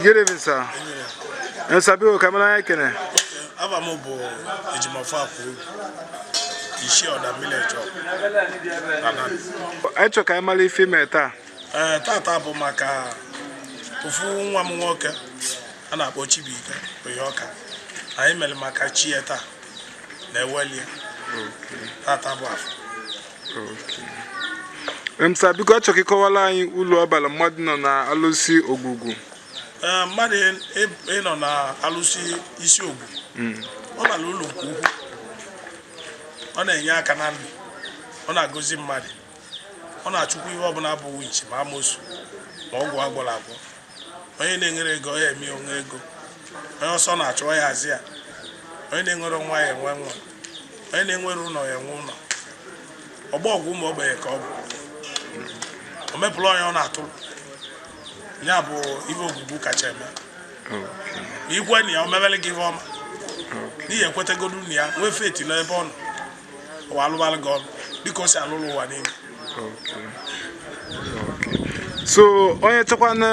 Good evening, sir. And sir biko, ka m mara afa gị. Afa m bụ Ejimọfọ Akwọbi, isi Ọda mmili eje ọgụ. Ị chọ ka ị mali ife mere. Tata bụ maka ofu nwa m nwoke a na-akpọ Chibuike onye ọka anyị mere maka chi ya taa na-eweli tata bụ afọ mm sir biko achọ m ka ị kọwala anyị ulu ọ bara mmadụ nọ na alụsị ogwugwu eh, mmadụ ịnọ na alụsị isi ogwugwu. ọ bara ulu nke ukwu ọ na-enye aka na ndụ ọ na-agọzi mmadụ ọ na-achụkwa ihe ọbụla bụ winchi ma amosu ma ọgwụ agwọrọ agwọ onye na-enwere ego ya eme o nwee ego onye ọsọ na-achụ ya azọ ya onye na-enwere nwa ya enwee nwa onye na-enwere ụnọ ya enwee ụnọ ọgbọ ọgụ ụmụ ogbenye ka ọ bụ o mepụrụ onye ọ na-atụrụ ya bụ ife ogwugwu kacha eme i kwe na ya o mebere gị ife ọma na ị ya-ekwetegodu na ya nwee faith n'ebe ọ nọ o wee lụbalụ gị ọlụ dịka o si alụrụ ụwa niile so onye chọkwanụ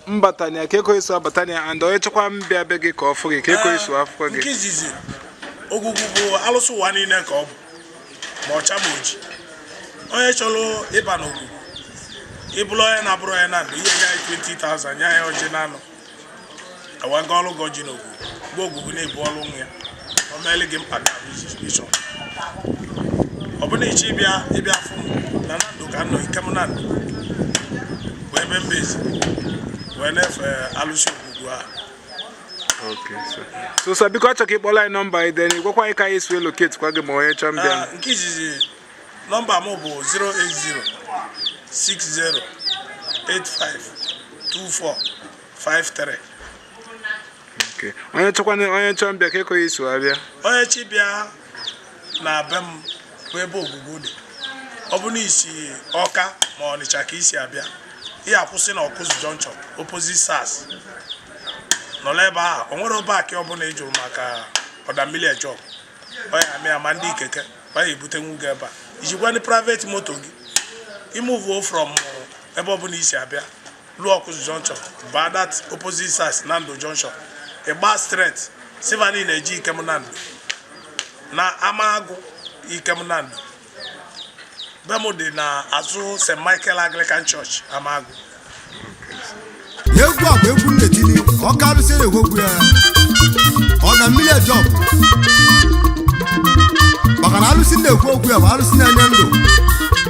mbata na ya kee ka ọ ya-esi wee bata na ya and onye chọkwanụ mbịa be gị ka ọ fụ gị kee ka ọ ya-esi wee fụ gị nke izizi ogwugwu bụ alụsị ụwa niile ka ọ bụ ma ọcha ma oji onye chọrọ ịba n'ogwugwu ị bụrụ onye na-abụrọ onye Nando i nye anyị 20,000 nye ya ọjị na anọ e wee gọọlụ gị ọjị n'ogwugwu be ogwugwu ị bụrụ nwa ya o meele gị mkpa ị chọ ọ bụrụ na ị chọ ịbịa ị bịa fụ m Nando ka m nọ Ikem Nando bụ ebe m base wee na-efe alụsị ogwugwu ahụ Okay, sir. So, sir, biko achọrọ ka ị kpọrọ anyị nọmba anyị then gwakwa anyị ka anyị si wee locate kwa gị ma onye chọọ mbịa. Ah, nke izizi nọmba m bụ 08060852453. Okay. Onye chọkwa onye chọọ mbịa kee ka ọ ya-esi wee bịa. Onye chọ ịbịa na be m bụ ebe ogwugwu dị ọ bụ na i si Ọka ma ọnịcha ka i si abịa ị ya-akwụsị na ọkụzụ junction opposite sars nọla ebe ahụ o nwere bike ọbụla ị jụrụ maka ọda mmili eje ọgụ ọ ya-ama ya ma ndị keke fa ya-ebutenwu gị ebe a i jikwanụ private moto gị i movuo from ebe ọbụla i si abịa luo ọkụzụ junction baa that opposite sars Nando junction ị gbaa straight sị fa na ị na-eje Ikem Nando na Amagụ Ikem Nando be m dị na azụ st michael anglican church Amagụ egwu a bụ egwu m na-etili oke alụsị ogwugwu ya ọda mmili eje ọgụ maka na alụsị na-ekwu okwu ya bụ alụsị na-enye ndụ